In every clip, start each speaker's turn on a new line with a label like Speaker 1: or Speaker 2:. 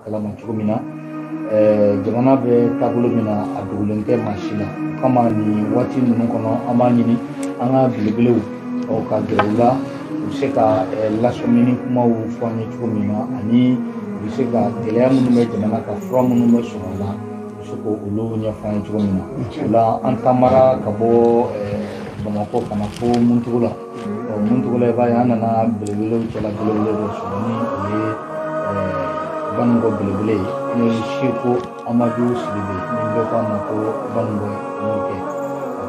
Speaker 1: kalama cogo min na jamana bɛ taabolo min na a dogolen tɛ maa si la o kama nin waati ninnu kɔnɔ an b'a ɲini an ka belebelew ka gɛrɛ u la u bɛ se ka lasɔmini kumaw fɔ an ye cogo min na ani u bɛ se ka gɛlɛya minnu bɛ jamana kan fura minnu bɛ sɔrɔ a la u bɛ se ka olu ɲɛfɔ an ye cogo min na o la an taamara ka bɔ bamakɔ ka na fo muntugu la ɔ muntugula i b'a ye an nana belebelew cɛla belebele dɔ sɔrɔ ni o ye baninkɔ belebele ye n'o ye seko amadu sidibe ni bɛɛ ko a ma ko baninkɔ mɔkɛ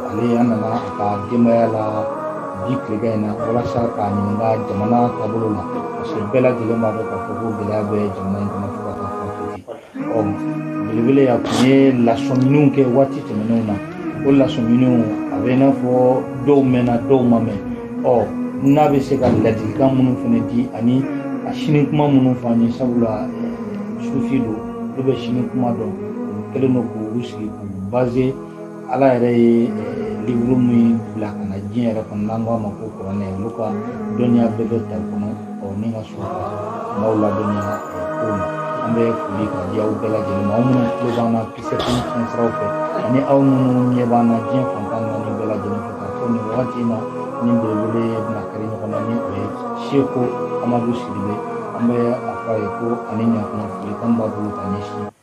Speaker 1: ale an nana a ka denbaya la bi tilegan in na walasa k'a ɲininka jamana taabolo la parce que bɛɛ lajɛlen b'a dɔn k'a fɔ ko gɛlɛya bɛ jamana in kɔnɔ fo ka taa fɔ ɔ belebele a tun ye lasɔminiw kɛ waati tɛmɛnenw na o lasɔminiw a bɛ i n'a fɔ dɔw mɛnna dɔw ma mɛn ɔ n'a bɛ se ka ladilikan minnu fana di ani a sini kuma minnu fɔ an ye sabula sufi don olu bɛ sini kuma dɔn u kɛlen don k'u sigi k'u baze ala yɛrɛ ye liburu min bila ka na diɲɛ yɛrɛ kɔnɔ n'an k'a ma ko kuranɛ olu ka dɔnniya bɛɛ bɛ ta kɔnɔ ɔ ni ka sɔrɔ ka maaw ladɔnniya kow la an bɛ foli ka di aw bɛɛ lajɛlen ma aw minnu tulo b'an na pcfm siraw fɛ ani aw minnu ɲɛ b'an na diɲɛ fan tan ni naani bɛɛ lajɛlen fɛ k'a fɔ nin wagati in na an ni belebele bɛna kari ɲɔgɔn na ni o ye seko amadu sidibe an bɛ a fɔ a ye ko ani ɲakuma folikan b'a bolo ka ɲɛsin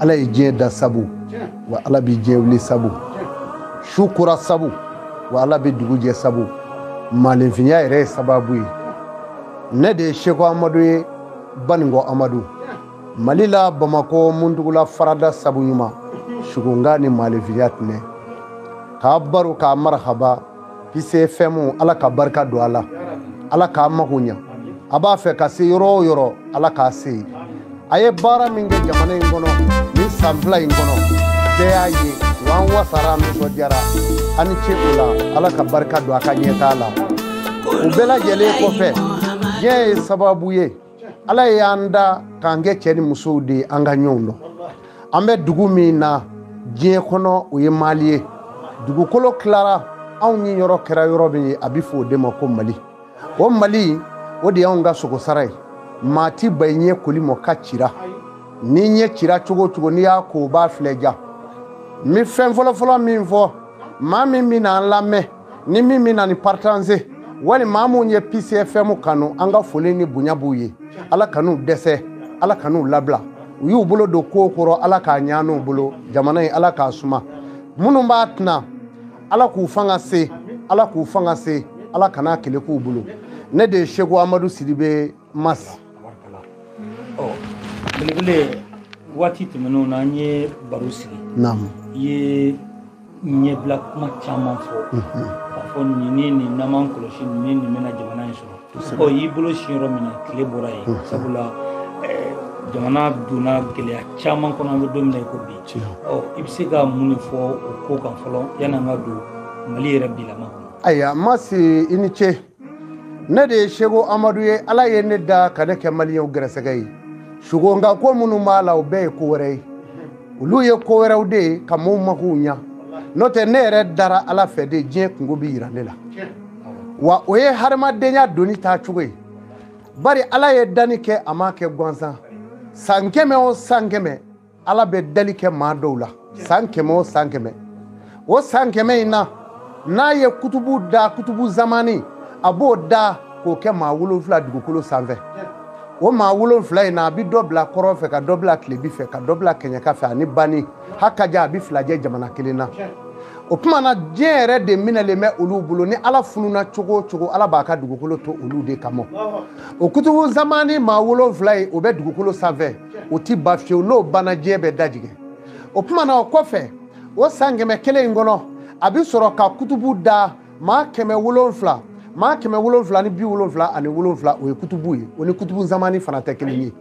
Speaker 2: ala ye diɲɛ da sabu wa ala bɛ diɲɛ wuli sabu su kora sabu wa ala bɛ dugu jɛ sabu maalenfinya yɛrɛ ye sababu ye ne de ye seko amadu ye baninkɔ amadu mali la bamakɔ muntugula farada sabu ɲuman sugunga ni maalenfinya tɛnɛ k'a baro k'a marahaba pcfm ala ka barika don a la ala k'a mago ɲa a b'a fɛ ka se yɔrɔ o yɔrɔ ala k'a se yen a ye baara min kɛ jamana in kɔnɔ nin san fila in kɔnɔ bɛɛ y'a ye wa an wasara nisɔndiyara a ni ce o la ala ka barika don a ka ɲɛtaa la o bɛɛ lajɛlen kɔfɛ diɲɛ ye sababu ye ala ye y'an da k'an kɛ cɛ ni musow de ye an ka ɲɔgɔn dɔn an bɛ dugu min na diɲɛ kɔnɔ o ye mali ye dugukolo tilara anw niyɔrɔ kɛra yɔrɔ min ye a bɛ fɔ o de ma ko mali o mali o de y'anw ka sogosara ye maa tɛ ban i ɲɛ koli ma k'a cira n'i ɲɛ cira cogo o cogo n'i y'a ko o b'a filɛ ja n bɛ fɛn fɔlɔfɔlɔ min fɔ maa min bɛna an lamɛn ni min bɛna nin partaze wali maa minnu ye pcfm kanu an ka foli ni bonya b'u ye ala kan'u dɛsɛ ala kan'u labila u y'u bolo don ko kɔrɔ ala k'a ɲa u bolo jamana in ala k'a suma minnu b'a ten na ala k'u fanga se ala k'u fanga se ala kan'a keleku u bolo ne de ye seko amadu sidibe
Speaker 1: mas belebele waati tɛmɛnenw na an ye baro sigi i ye ɲɛbila kuma caman fɔ mhm. k'a fɔ nin ni nin n'an m'an kɔlɔsi nin ni nin bɛna jamana in sɔrɔ ɔ y'i bolo si yɔrɔ min na tile bɔra yen mhm. sabula eh, jamana donna gɛlɛya caman kɔnɔ an bɛ don min na i ko bi ɔ i bɛ se ka mun de fɔ o ko kan fɔlɔ yanni an ka don mali yɛrɛ bilama kɔnɔ ayiwa mas
Speaker 2: i ni ce ne de ye seko amadu ye ala ye ne da ka ne kɛ maliyɛnw gɛrɛsɛgɛ ye sugonka ko minnu b'a la o bɛɛ ye ko wɛrɛ ye olu ye ko wɛrɛw de ye ka maaw magow ɲa n'o tɛ ne yɛrɛ dara ala fɛ de diɲɛ kunko bɛ yira ne la wa o ye hadamadenya doni taa cogo ye bari ala ye danni kɛ a m'a kɛ gansan san kɛmɛ o san kɛmɛ ala bɛ dali kɛ maa dɔw la san kɛmɛ o san kɛmɛ o san kɛmɛ in na n'a ye kutubu da kutubu zamani a b'o da k'o kɛ maa wolonfila dugukolo sanfɛ o maa wolonfila in na a bɛ dɔ bila kɔrɔn fɛ ka dɔ bila tilebi fɛ ka dɔ bila kɛɲɛka fɛ ani bani a ka ca a bɛ fila jɛ jamana kelen na o tuma na diɲɛ yɛrɛ de minɛlen bɛ olu bolo ni ala fununa cogo o cogo ala b'a ka dugukolo to olu de kama o kutubu zamani maa wolonfila in o bɛ dugukolo sanfɛ o ti ban fiyewu n'o banna diɲɛ bɛ dajigɛ o tuma na o kɔfɛ o san kɛmɛ kelen in kɔnɔ a bɛ sɔrɔ ka kutubu da maa kɛmɛ wolonfila maa kɛmɛ wolonfila ni bi wolonfila ani wolonfila o ye kutubu ye o ni kutubu zamani fana tɛ kelen ye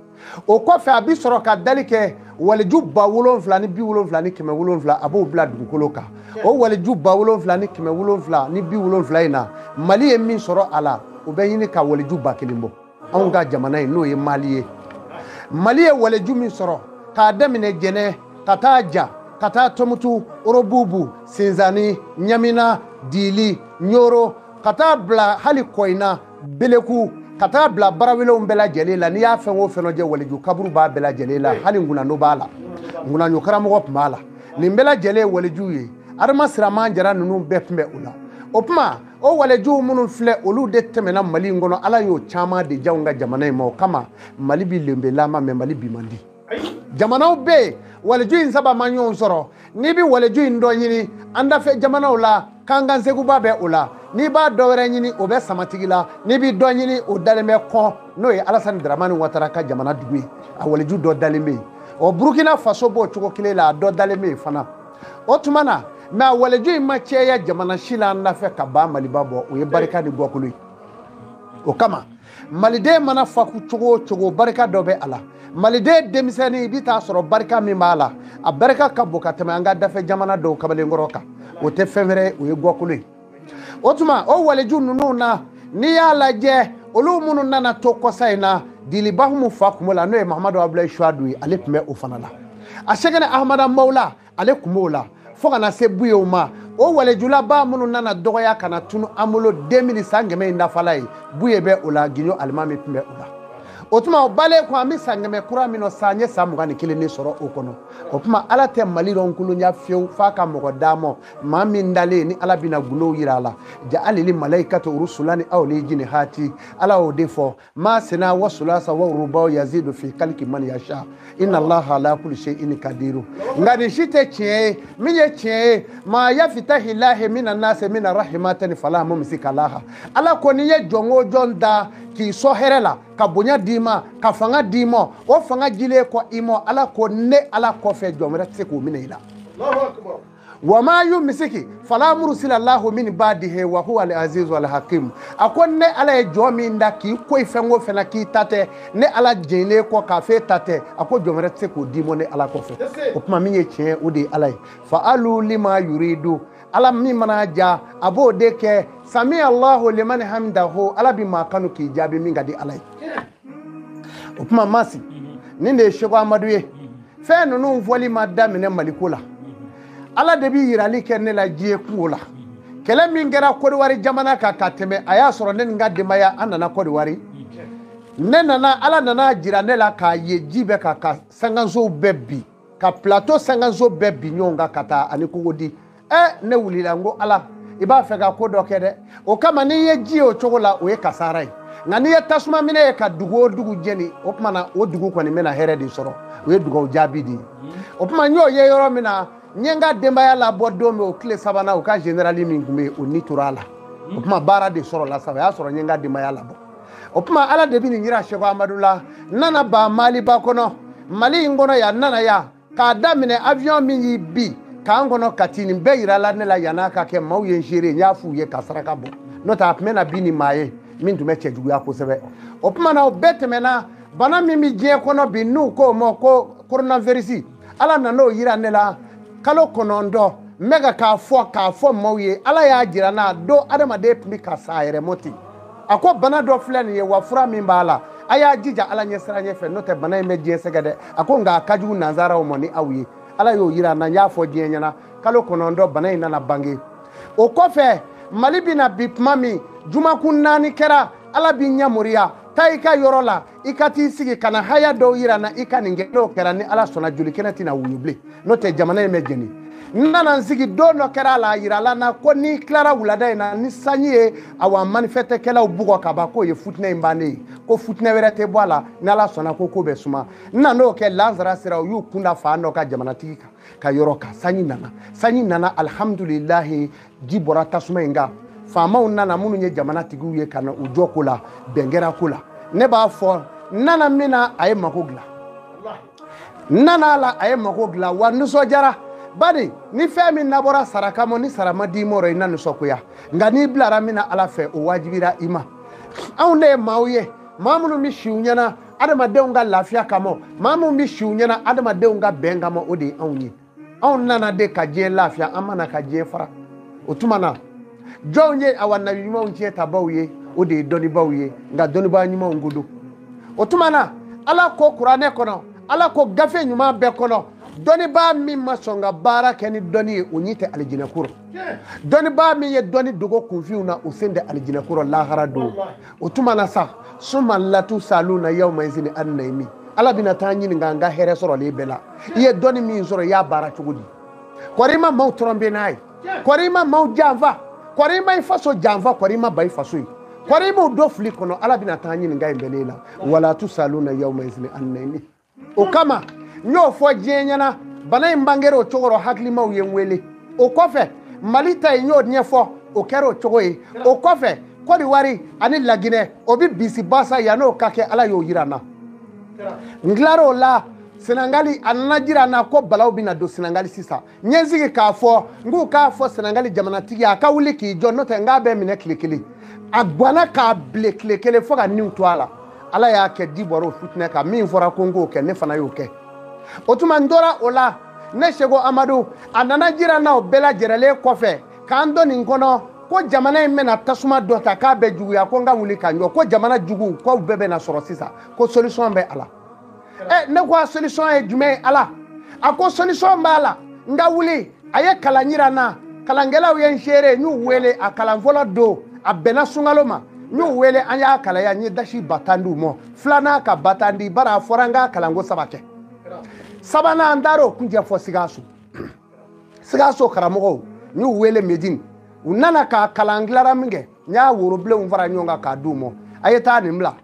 Speaker 2: o kɔfɛ a bɛ sɔrɔ ka dali kɛ waliju ba wolonfila ni bi wolonfila ni kɛmɛ wolonfila a b'o bila dugukolo kan o waliju ba wolonfila ni kɛmɛ wolonfila ni bi wolonfila in na mali ye min sɔrɔ a la o bɛ ɲini ka waliju ba kelen bɔ anw ka jamana in n'o ye mali ye mali ye waleju min sɔrɔ k'a daminɛ jɛnɛ ka taa ja ka taa tomutu orobubu sinzani ɲamina dili ɲoro ka taa bila hali kɔyina beleku ka taa bila barawelenw bɛɛ lajɛlen la n'i y'a fɛn o fɛn lajɛ waleju kaburu b'a bɛɛ lajɛlen la hali ŋunano b'a la ŋunanyo karamɔgɔ tun b'a la nin bɛɛ lajɛlen ye walejuw ye adama siraman jara ninnu bɛɛ tun bɛ o la o tuma o walejuw minnu filɛ olu de tɛmɛna mali in kɔnɔ ala y'o caman de di anw ka jamana in ma o kama mali bi lenbelama mɛ mali bi man di jamanaw bɛ yen waleju in saba ma ɲɔgɔn sɔrɔ n'i bɛ waleju in dɔ ɲini an dafɛ jamanaw la kankan sekuba bɛ o la n'i b'a dɔ wɛrɛ ɲini o bɛ samatigila n'i bɛ dɔ ɲini o dalen bɛ kɔn n'o ye alasani daramani watara ka jamana dugu ye a waleju dɔ dalen bɛ yen ɔ burukina faso b'o cogo kelen la a dɔ dalen bɛ yen fana o tuma na mɛ a waleju in ma cɛya jamana si la an dafɛ ka ban maliba bɔ o ye barika ni gɔkolo ye o kama maliden mana fa cogo o cogo barika dɔ bɛ a la maliden denmisɛnnin i bɛ taa sɔrɔ barika min b'a la a barika ka bon ka tɛmɛ an ka dafɛ jamana dɔw kamalenkɔrɔ kan o tɛ fɛn wɛrɛ o ye gɔkolo ye o tuma o waliju ninnu na n'i y'a lajɛ olu minnu nana to kɔsa in na dili ba umu fa kun b'o la n'o ye mahamadu abulayi suwadu ye ale tun bɛ o fana la a sɛkina ahamada hamawula ale tun b'o la fo ka na se buyew ma o walejulaba minnu nana dɔgɔya ka na tunu an bolo 2000 san kɛmɛ in dafala ye buye bɛ o la giɲo alimami tun bɛ o la o tuma o balen ko an bɛ san kɛmɛ kura min na sa an ye san mugan ni kelen de sɔrɔ o kɔnɔ o tuma ala tɛ mali dɔn kolonya fiyewu f'a ka mɔgɔ d'a ma maa min dalen ni ala bɛna gundow yira a la jahalili malayikati rusulan uli ajinihati ala y'o de fɔ masena wa sulasa wa rubaw yazidu fi kaliki man yasha inna allaha ala kulli shay'in kadiru nka nin si tɛ tiɲɛ ye min ye tiɲɛ ye ma yafitahi lahi minan nasi min rahimatin fala mumsika laha ala ko ni n ye jɔn o jɔn da k'i sɔ hɛrɛ la ka bonya d'i ma ka fanga d'i ma o fanga jilen kɔ i ma ala ko ne ala kɔfɛ jɔn wɛrɛ tɛ se k'o minɛ i la wa ma yumisiki fala mursila lahu min badihi wa huwa al azizu al hakim a ko ne ala ye jɔn min da k'i ko i fɛn o fɛn na k'i ta tɛ ne ala jɛnnen kɔ k'a f'e ta tɛ a ko jɔn wɛrɛ tɛ se k'o d'i ma ne ala kɔfɛ o tuma min ye tiɲɛ o de ye ala ye faalu lima yuridu ala min mana ja a b'o de kɛ sami allahu liman hamidahu ala bi maa kanu k'i jaabi min ka di ala ye o kuma masi nin de ye seko amadu ye fɛn ninnu fɔli ma daminɛ mali ko la ala de bi yirali kɛ ne la diɲɛ kungo la kɛlɛ min kɛra kodiwari jamana kan ka tɛmɛ a y'a sɔrɔ ne ni n ka denbaya an nana kodiwari ne nana ala nana jira ne la k'a ye ji bɛ ka ka sankansow bɛɛ bi ka plateau sankanso bɛɛ bi ɲɔgɔn kan ka taa ani kokodi ɛ ne wulila n ko ala i b'a fɛ ka ko dɔ kɛ dɛ o kama n'i ye ji ye o cogo la o ye kasara ye nka n'i ye tasuma minɛ ye ka dugu o dugu jeni o tuma na o dugu kɔni bɛna hɛrɛ de sɔrɔ o ye dugawu jaabi de ye o tuma n y'o ye yɔrɔ min na n ye n ka denbaya labɔ don min o tile sabanan u ka generali min tun bɛ yen o ni tora a la o tuma baara de sɔrɔla sa o y'a sɔrɔ n ye n ka denbaya labɔ o tuma ala de bɛ nin jira seko amadu la n nana ban maliba kɔnɔ mali in kɔnɔ yan n nana yan k'a daminɛ avion min y'i bin camp kɔnɔ kati nin bɛɛ yirala ne la yan'a ka kɛ maaw ye n seere n y'a f'u ye ka saraka bɔ n'o tɛ a tun bɛ na bin ni maa ye min tun bɛ cɛjuguya kosɛbɛ o tuma na o bɛɛ tɛmɛna bana min bɛ diɲɛ kɔnɔ bi n'u k'o ma ko koronavirisi ala nan'o yira ne la kalo kɔnɔntɔn n bɛ ka k'a fɔ k'a fɔ maaw ye ala y'a jira n na don adamaden tun bɛ ka sa a yɛrɛ mɔ ten a ko bana dɔ filɛ nin ye wa fura min b'a la a y'a jija ala ɲɛsiranɲɛ fɛ n'o tɛ bana in bɛ diɲɛ sɛgɛn dɛ a ko nka a ka jugu nanzaraw ma ni aw ye ala y'o yira n na n y'a fɔ diɲɛ ɲɛna kalo kɔnɔntɔn bana in nana bange o kɔfɛ mali bɛna bin tuma min jumakun naani kɛra ala b'i ɲɛmoriya taa i ka yɔrɔ la i ka t'i sigi ka na haya dɔw yira n na i ka nin kɛ n'o kɛra ni ala sɔnna joli kɛnɛ tɛna wuyu bilen n'o tɛ jamana in bɛ jeni n nana n sigi don dɔ kɛra a la a yirala n na ko n'i tilara wulada in na ni sanji ye awa manifɛtɛkɛlaw bugɔ ka ban k'o ye futinɛ in bannen ye ko futinɛ wɛrɛ tɛ bɔ a la ni ala sɔnna ko ko bɛ suma n nan'o kɛ lansara sera u y'u kunda fan dɔ kan jamanatigi kan ka yɔrɔ kan sanji nana sanji nana alihamudulilahi ji bɔra tasuma in kan faamaw nana minnu ye jamana tigiw ye ka na u jɔ ko la bɛn kɛra ko la ne b'a fɔ n nana min na a ye mako dilan n nana a la a ye mako dilan wa nisɔndiyara bari ni fɛn min nabɔra sara kama ni sara ma d'i ma o rɔ i na nisɔngoya nka n'i bilara min na ala fɛ o wajibira i ma anw de ye maaw ye maa minnu bɛ si u ɲɛna adamadenw ka lafiya kama maa minnu bɛ si u ɲɛna adamadenw ka bɛn kama o de ye anw ye anw nana de ka diɲɛ lafiya an ma na ka diɲɛ fara o tuma na jɔnw ye awa nabi ɲumanw tiɲɛtabaaw ye o de ye dɔnnibaaw ye nka dɔnnibaa ɲumanw ko don o tuma na ala ko kuranɛ kɔnɔ ala ko gafe ɲuman bɛɛ kɔnɔ dɔnnibaa min ma sɔn ka baara kɛ ni dɔnni ye o ɲi tɛ alijinɛko rɔ dɔnnibaa min ye dɔnni dogo kunfinw na o sen tɛ alijinɛko rɔ lahara don o tuma na sa suma latusaluna yawma izini annaimi ala bina taa ɲininka an ka hɛrɛ sɔrɔlen bɛɛ la i ye dɔnni min sɔrɔ i y'a baara cogo di kɔri i ma maaw tɔrɔnbe n'a ye kɔri i ma maaw janfa kɔri i ma i faso janfa kɔri i ma ban i faso ye kɔri i m'o don fili kɔnɔ ala bina taa ɲininka in bɛɛ la wa latusaluna yawma izini annaimi o kama n y'o fɔ diɲɛ ɲɛna bana in bangera o cogo rɔ hakilimaw ye n wele o kɔfɛ mali ta ye n y'o ɲɛfɔ o kɛra o cogo ye o kɔfɛ kɔdiwari ani laginɛ o bi bisi basa yann'o ka kɛ ala y'o yira n na n tilar'o la sɛnɛgali a nana jira n na ko balaw bɛna don sɛnɛgali sisan n ye n sigi k'a fɔ n k'u k'a fɔ sɛnɛgali jamanatigi ye a ka wuli k'i jɔ n'o tɛ n k'a bɛ minɛ tile kelen a gwanna k'a bilen tile kelen fo ka niw to a la ala y'a kɛ ji bɔr'o fitinɛ kan min fɔra ko n k'o kɛ ne fana y'o kɛ o tuma n tora o la ne seko amadu a nana jira n na o bɛɛ lajɛrɛlen kɔfɛ k'an don nin kɔnɔ ko jamana in bɛna tasuma dɔ ta k'a bɛ juguya ko n ka wuli ka n jɔ ko jamana juguw k'u bɛɛ bɛna sɔrɔ sisan ko solution bɛ a la ɛ ne ko a solution ye jumɛn ye ala a ko solution b'a la n ka wuli a ye kalan yira n na kalankɛlaw ye n seere n y'u wele a kalan fɔlɔ don a bɛnna sunkalo ma n y'u wele an y'a kalan yan n ye dasi ba tan di u ma filanan ka ba tan di bari a fɔra n ka kalan ko saba kɛ sabanan n taara o kuncɛ fo sikaso sikaso karamɔgɔw n y'u wele medini u nana k'a kalan tilara minkɛ n y'a worobilenw fara ɲɔgɔn kan k'a d'u ma a ye taa nin bila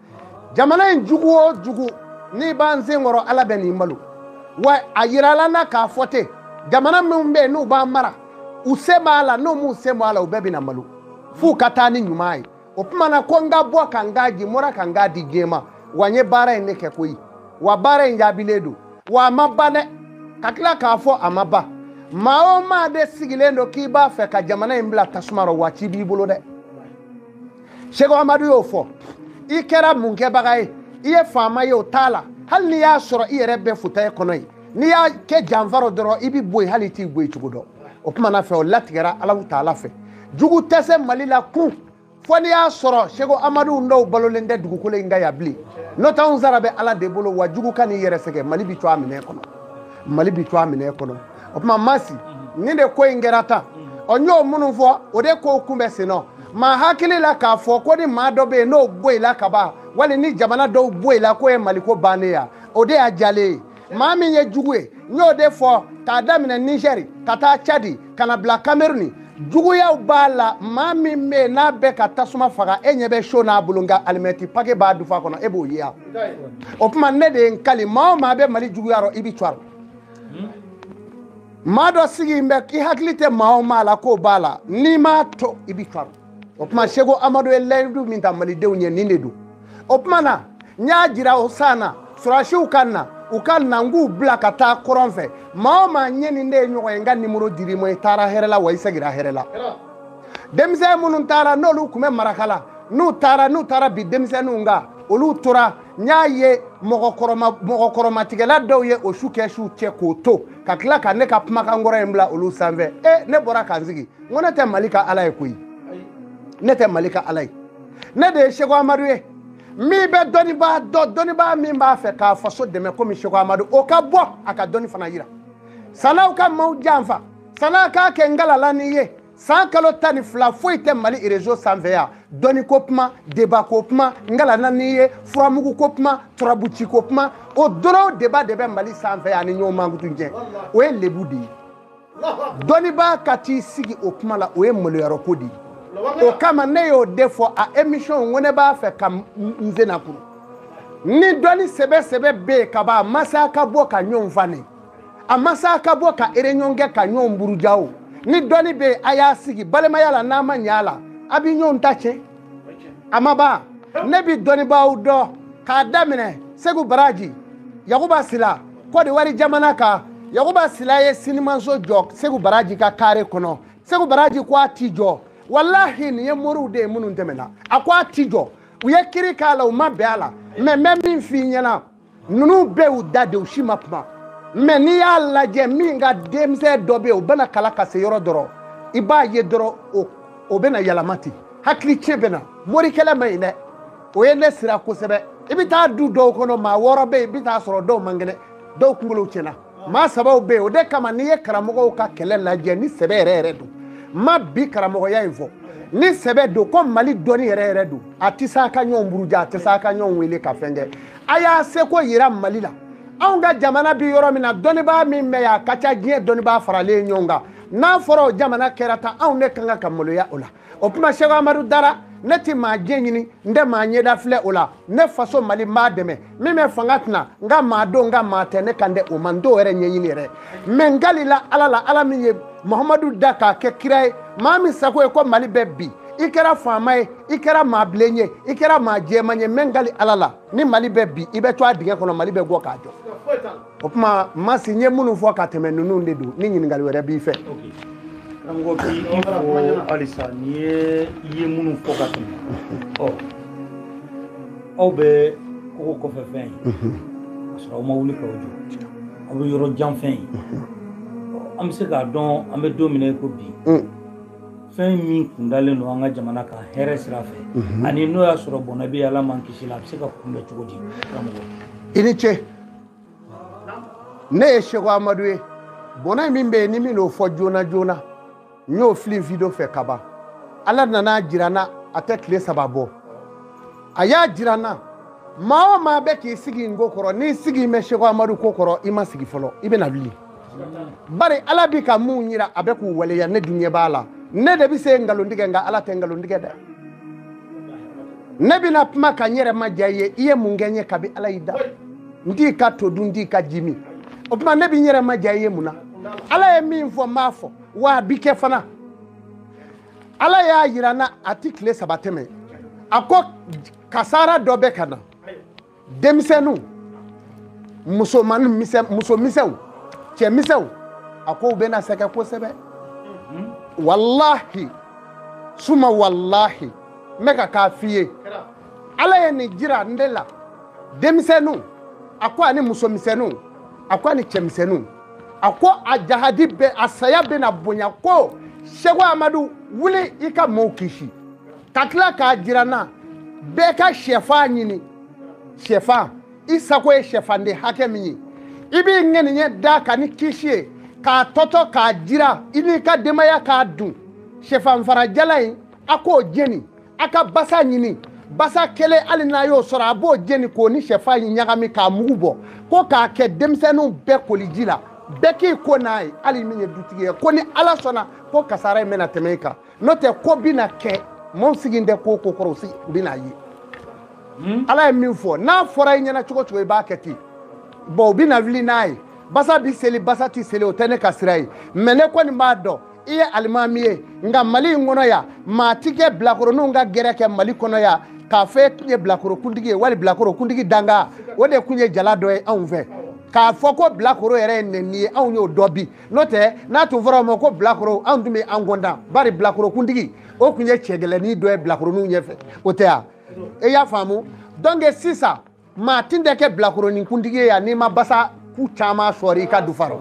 Speaker 2: jamana in jugu o jugu n'i b'an sen kɔrɔ ala bɛn'i malo wa a yirala na k'a fɔ ten jamana minnu bɛ yen n'u b'an mara u sen b'a la n'u m'u sen bɔ a la u bɛɛ bɛna malo f'u ka taa ni ɲuman ye o tuma na ko n ka bɔ ka n kan di n bɔra ka n kan di diɲɛ ma wa n ye baara in ne kɛ koyi wa baara in jaabilen don wa a ma ban dɛ ka tila k'a fɔ a ma ban maa o maa de sigilen don k'i b'a fɛ ka jamana in bila tasuma rɔ wa ci b'i bolo dɛ seko amadu y'o fɔ i kɛra mun kɛbaga ye i ye faama ye o t'a la hali n'i y'a sɔrɔ i yɛrɛ bɛ fauteuil kɔnɔ ye n'i y'a kɛ janfa rɔ dɔrɔn i bɛ bɔ yen hali i t'i bɔ yen cogo dɔn o kuma na fɛ o latigɛra alahu taala fɛ jugu tɛ se mali la kun fo n'i y'a sɔrɔ seko amadu dɔw balolen tɛ dugukolo in kan yan bilen n'o tɛ anw sara bɛ ala de bolo wa jugu kan'i yɛrɛ sɛgɛn mali bi to a minɛ kɔnɔ mali bi to a minɛ kɔnɔ o tuma masi nin de ko in kɛra tan ɔ n y'o minnu fɔ o de kow kunbɛn sen nɔ maa hakili la k'a fɔ ko ni maa dɔ bɛ yen n'o bɔ i la ka ban wali ni jamana dɔw bɔ i la k'o ye maliko bannen ye o de y'a jalen ye maa min ye jugu ye n y'o de fɔ k'a daminɛ nizɛri ka taa cadi ka na bila kameruni juguyaw b'a la maa min bɛ yen n'a bɛ ka tasuma faga e ɲɛ bɛ seau n'a bolo nka alimɛti pake b'a dufa kɔnɔ e b'o ye yan o tuma ne de ye n kali maa o maa bɛ mali juguya rɔ i bɛ cɔri maa dɔ sigilen bɛ i hakili tɛ maa o maa la k'o b'a la n'i m'a to i bɛ cɔri o tuma seko amadu ye layidu min ta malidenw ye nin de don o tuma na n y'a jira o san na sɔrɔdasiw ka na u ka na n k'u bila ka taa kɔrɔn fɛ maa o maa ne ni e ye ɲɔgɔn ye n ka nimoro dir'i ma i taara hɛrɛ la wa i segira hɛrɛ la denmisɛn minnu taara n'olu tun bɛ marakala n'u taara n'u taara bin denmisɛnninw kan olu tora n y'a ye mɔgɔkɔrɔmatigɛla dɔw ye o su kɛ su cɛ k'o to ka tila ka ne ka kumakan kɔrɔ in bila olu sanfɛ e ne bɔra ka n sigi n ko ne tɛ mali ka ala ye koyi ne tɛ mali ka ala ye ne de ye seko amadu ye min bɛ dɔnnibaa dɔ dɔnnibaa min b'a fɛ k'a faso dɛmɛ komi seko amadu o ka bɔ a ka dɔnni fana yira san'aw ka maaw janfa san'a k'a kɛ ngalala n'i ye san kalo tan ni fila foyi tɛ mali réseau sanfɛ yan dɔnni ko kuma débat ko kuma ngalana n'i ye furamugu ko kuma turabuci ko kuma o dɔrɔn débat de bɛ mali sanfɛ yan ni ɲɔgɔn mankutu cɛn o ye lebu de ye dɔnnibaa ka t'i sigi o kuma la o ye maloyɔrɔ ko de ye o kama ne y'o de fɔ a émission ko ne b'a fɛ ka n sen nakuru ni dɔnni sɛbɛ sɛbɛ bɛ yen ka ban a ma se a ka bɔ ka ɲɔgɔn fane a ma se a ka bɔ ka réunion kɛ ka ɲɔgɔn buruja o ni dɔnni bɛ yen a y'a sigi balimaya la n'a ma ɲɛ a la a bɛ ɲɔgɔn ta tiɲɛ a ma ban ne bi dɔnnibaaw dɔn k'a daminɛ segu baraji yakuba sila kɔdiwari jamana kan yakuba sila ye sinimanso jɔ segu baraji ka kare kɔnɔ segu baraji ko a ti jɔ walahi nin ye moriw de ye minnu tɛmɛna a ko a ti jɔ u ye kiiri k'a la u ma bɛn a la mɛ n bɛ min f'i ɲɛna ninnu bɛɛ y'u da de u si ma kuma mɛ n'i y'a lajɛ min ka denmisɛn dɔ bɛ yen o bɛna kalan ka se yɔrɔ dɔrɔn i b'a ye dɔrɔn o bɛna yɛlɛma ten hakili tiɲɛ bɛ na morikɛlɛ man ɲi dɛ o ye ne siran kosɛbɛ i bɛ taa du dɔw kɔnɔ maa wɔɔrɔ bɛ yen i bɛ taa sɔrɔ dɔw man kɛnɛ dɔw kunkolo tiɲɛna maa sabaw bɛ yen o de kama n'i ye karamɔgɔw ka kɛlɛ lajɛ ni sɛbɛ yɛrɛ yɛrɛ don maa bi karamɔgɔya in fɔ ni sɛbɛ don ko mali dɔnni yɛrɛ yɛrɛ don a tɛ se a ka ɲɔgɔn buruja a tɛ se a ka ɲɔgɔn wele ka fɛn kɛ a y'a seko yira mali la anw ka jamana bɛ yɔrɔ min na dɔnnibaa min bɛ yan a ka ca diɲɛ dɔnnibaa faralen ɲɔgɔn kan n'a fɔra o jamana kɛra tan anw de ka kan ka maloya o la o tuma seko amadu dara ne tɛ maa diɲɛ ɲini n tɛ maa ɲɛda filɛ o la ne faso mali n b'a dɛmɛ min bɛ fanga tɛna n ka maa don n ka maa tɛ ne kan tɛ o ma n t'o yɛrɛ ɲɛɲini yɛrɛ mɛ n kalila ala la ala min ye muhamadu da k'a kɛ kira ye maa min sago ye ko mali bɛ bin i kɛra faama ye i kɛra maa bilen ye i kɛra maa jɛman ye mɛ n kali ala la ni mali bɛ bin i bɛ to a dingɛ kɔnɔ mali bɛ bɔ k'a jɔ o tuma masi n ye minnu fɔ ka tɛmɛ ninnu de don ni ɲininkali wɛrɛ b'i fɛ
Speaker 1: karamɔgɔ bi i fo halisa n'i ye i ye minnu fɔ ka tɛmɛ ɔ aw bɛ kogo kɔfɛ fɛn ye ka sɔrɔ aw ma wuli k'aw jɔ aw bɛ yɔrɔ jan fɛn ye an bɛ se k'a dɔn an bɛ don min na i ko bi fɛn min kundalen don an ka jamana kan hɛrɛ sira fɛ ani n'o y'a sɔrɔ bɔnɛ bɛ yen ala m'an kisi la a bɛ se ka kunbɛn cogo di karamɔgɔ i ni ce
Speaker 2: ne ye seko amadu ye bɔnɛ min bɛ yen ni min n'o fɔ joona joona n y'o fili video fɛ ka ban ala nana jira n na a tɛ tile saba bɔ a y'a jira n na maa o maa bɛ k'i sigi n ko kɔrɔ n'i sigilen bɛ seko amadu ko kɔrɔ i ma sigi fɔlɔ i bɛna wuli bari ala bi ka min yira a bɛ k'o waleya ne dun ɲɛ b'a la ne de bɛ se nkalon tigɛ nka ala tɛ nkalon tigɛ dɛ ne bɛna kuma ka n yɛrɛ madiya i ye i ye mun kɛ n ye kabi ala y'i da n t'i ka to dun n t'i ka ji min o tuma ne bɛ n yɛrɛ madiya i ye mun na ala ye min fɔ n b'a fɔ wa a bi kɛ fana ala y'a yira n na a ti tile saba tɛmɛ a ko kasara dɔ bɛ ka na denmisɛnninw muso misɛnw cɛ misɛnw a ko u bɛna sɛgɛn kosɛbɛ walahi suma walahi n bɛ kan k'a f'i ye ala ye nin jira n de la denmisɛnninw a ko ani musomisɛnninw a ko ani cɛmisɛnninw a ko a jahadi bɛ a saya bɛna bonya ko seko amadu wuli i ka mɔɔw kisi ka tila k'a jira n na bɛɛ ka sɛfan ɲini sɛfan i sago ye sɛfanden hakɛ min ye i b'i ŋaniya d'a kan ni kisi ye k'a tɔtɔ k'a jiran i n'i ka denbaya k'a dun sɛfanfara jalan in a k'o jeni a ka basa ɲini basa kelen hali n'a y'o sɔrɔ a b'o jeni k'o ni sɛfan in ɲagami k'a mugu bɔ ko k'a kɛ denmisɛnninw bɛɛ koliji la bɛɛ k'i ko n'a ye hali min ye dutigi ye ko ni ala sɔnna ko kasara in bɛna tɛmɛ i kan n'o tɛ ko bɛna kɛ maaw sigilen tɛ ko ko kɔrɔ u bɛna ye hmm? ala ye min fɔ n'a fɔra i ɲɛna cogo o cogo i b'a kɛ ten bɔn u bɛna wuli n'a ye basa bi seli basa ti seli o tɛ ne ka sira ye mɛ ne kɔni b'a dɔn i ye alimami ye nka mali in kɔnɔ yan maa ti kɛ bilakoroninw ka gɛrɛ kɛ mali kɔnɔ yan k'a fɔ e tun ye bilakoro kuntigi ye wali bilakoro kuntigi dankan o de tun ye jala dɔ ye anw fɛ k'a fɔ ko bilakoro yɛrɛ ye nɛni ye anw y'o dɔn bi n'o tɛ n'a tun fɔra o ma ko bilakoro anw tun bɛ an kɔntan bari bilakorokuntigi o tun ye cɛ gɛlɛnnin dɔ ye bilakoroninw ɲɛfɛ o tɛ yan e y'a faamu donc sisan maa tun tɛ kɛ bilakoroninkuntigi ye yan n'i ma basa ku caman sɔrɔ i ka dufa rɔ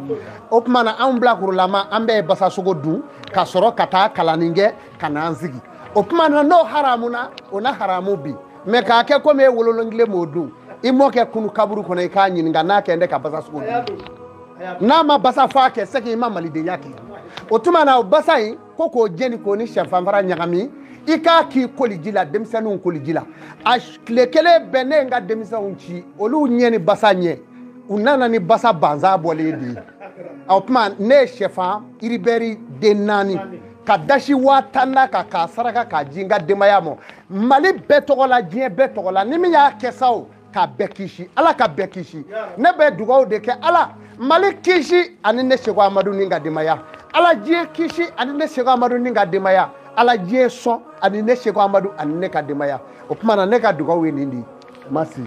Speaker 2: o tuma na anw bilakorolama an bɛɛ ye basasogo dun ka sɔrɔ ka taa kalanni kɛ ka n'an sigi o tuma na n'o haramuna o na haramu bi mɛ k'a kɛ komi e wololonkile m'o dun i mɔkɛ kunun kaburu kɔnɔ i k'a ɲininka n'a kɛ n tɛ ka basasogo dun n'a ma basa faa kɛ sɛki i ma malidenya kɛ o tuma na o basa in ko k'o jeni k'o ni sɛfanfara ɲagami i k'a k'i koliji la denmisɛnninw koliji la a tile kelen bɛɛ ne ye n ka denmisɛnw ci olu ɲɛ ni basa ɲɛ u nana ni basa banza bɔlen de ye o tuma ne ye sɛfan iribɛri den naani ka dasi waa tan d'a kan k'a saraka k'a di n ka denbaya ma mali bɛɛ tɔgɔ la diɲɛ bɛɛ tɔgɔ la ni min y'a kɛ sa o ka bɛɛ kisi ala ka bɛɛ kisi ne bɛ dugawu de kɛ ala mali kisi ani ne seku amadu ni n ka denbaya ala diɲɛ kisi ani ne seku amadu ni n ka denbaya ala diɲɛ sɔn ani ne seku amadu ani ne ka denbaya o tuma na ne ka dugawu ye nin de ye Masi.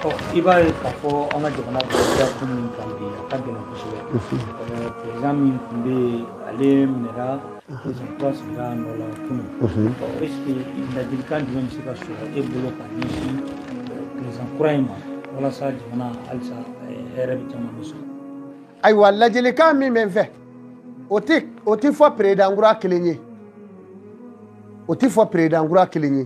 Speaker 1: Ɔ i b'a ye k'a fɔ an ka jamana bɛ ko min kan bi a ka gɛlɛn kosɛbɛ perezan min tun bɛ yen ale minɛra perezan dɔ sigira a nɔ la kunu ɔ esike ladilikan jumɛn bɛ se ka sɔrɔ e bolo ka ɲɛsin perezan kura in ma walasa jamana halisa hɛrɛ bɛ caman bɛ sɔrɔ
Speaker 2: ayiwa ladilikan min bɛ n fɛ o tɛ o tɛ fɔ peredan kura kelen ye o tɛ fɔ peredan kura kelen ye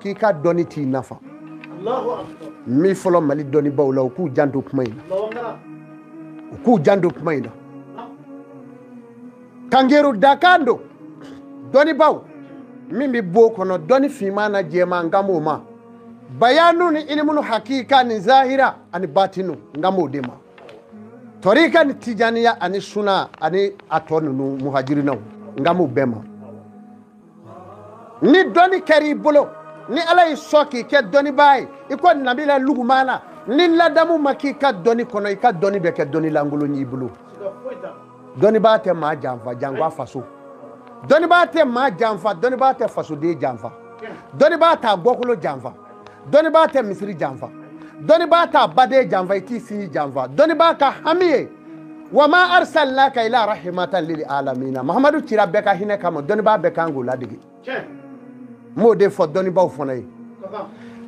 Speaker 2: k'i ka dɔnni t'i nafa n bi fɔlɔ mali dɔnnibaaw la u k'u janto kuma in na u k'u janto kuma in na kangeru dakan don dɔnnibaaw min bɛ b'o kɔnɔ dɔnni finman na jɛman n kan b'o ma bayanu ni ilimunu hakika ni zahira ani batinu n kan b'o de ma tɔrika ni tijaniya ani suna ani a tɔ ninnu muhajirinaw n kan b'o bɛɛ ma ni dɔnni kɛra i bolo ni ala y'i sɔn k'i kɛ dɔnnibaa ye i ko nabila lugumana ni ladamu ma k'i ka dɔnni kɔnɔ i ka dɔnni bɛ kɛ dɔnni lankolon y'i bolo dɔnnibaa tɛ maa janfa janko a faso dɔnnibaa tɛ maa janfa dɔnnibaa tɛ fasoden janfa dɔnnibaa t'a bɔkolo janfa dɔnnibaa tɛ misiri janfa dɔnnibaa t'a baden janfa i t'i sinji janfa dɔnnibaa ka hami ye wa ma arsalnaka ila rahimatan lil alamina mahamadu cira bɛɛ ka hinɛ kama dɔnnibaa bɛɛ kan k'o ladege n b'o de fɔ dɔnnibaaw fana ye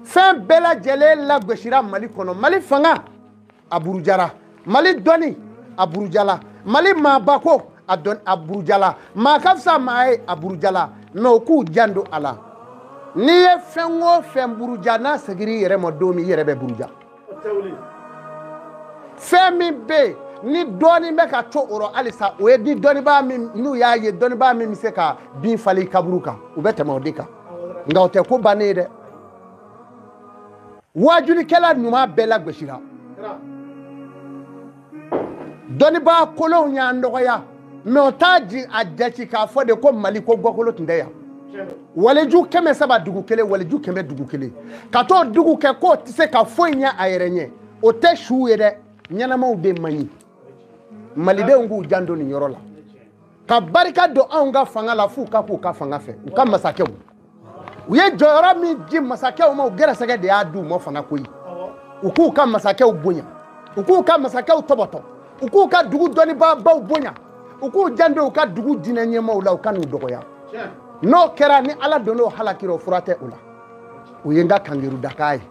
Speaker 2: fɛn bɛɛ lajɛlen lagosira mali kɔnɔ mali fanga a burujara mali dɔnni a burujala mali maabako a burujala maa ka fisa maa ye a burujala mɛ u k'u janto a la n'i ye fɛn o fɛn buruja n'a segir'i yɛrɛ ma don min i yɛrɛ bɛ buruja fɛn min bɛ yen ni dɔɔni bɛ ka to o rɔ halisa o ye ni dɔnnibaa min n'u y'a ye dɔnnibaa min bɛ se ka bin falen kaburu kan u bɛ tɛmɛ o de kan nka o tɛ ko bannen ye dɛ waajulikɛla ɲuman bɛɛ lagosira dɔnnibaa kolonw y'an dɔgɔya mɛ o t'a di a jate k'a fɔ de ko mali ko gɔkolo tun tɛ yan waliju kɛmɛ saba dugu kelen waliju kɛmɛ dugu kelen ka t'o dugu kɛ k'o tɛ se ka foyi ɲɛ a yɛrɛ ɲɛ o tɛ suw ye dɛ ɲɛnamaw de man ɲi malidenw k'u janto nin yɔrɔ la ka barika don anw ka fanga la f'u ka k'u ka fanga fɛ u ka masakɛw u ye jɔyɔrɔ min di masakɛw ma u gɛrɛsɛgɛ de y'a di u ma fana koyi u k'u ka masakɛw bonya u k'u ka masakɛw tɔbɔtɔ u k'u ka dugu dɔnnibaabaw bonya u k'u janto u ka dugu diinɛ ɲɛmaaw la u kan'u dɔgɔya n'o kɛra ni ala donn'o halakira o fura tɛ o la o ye n ka kankaridakan ye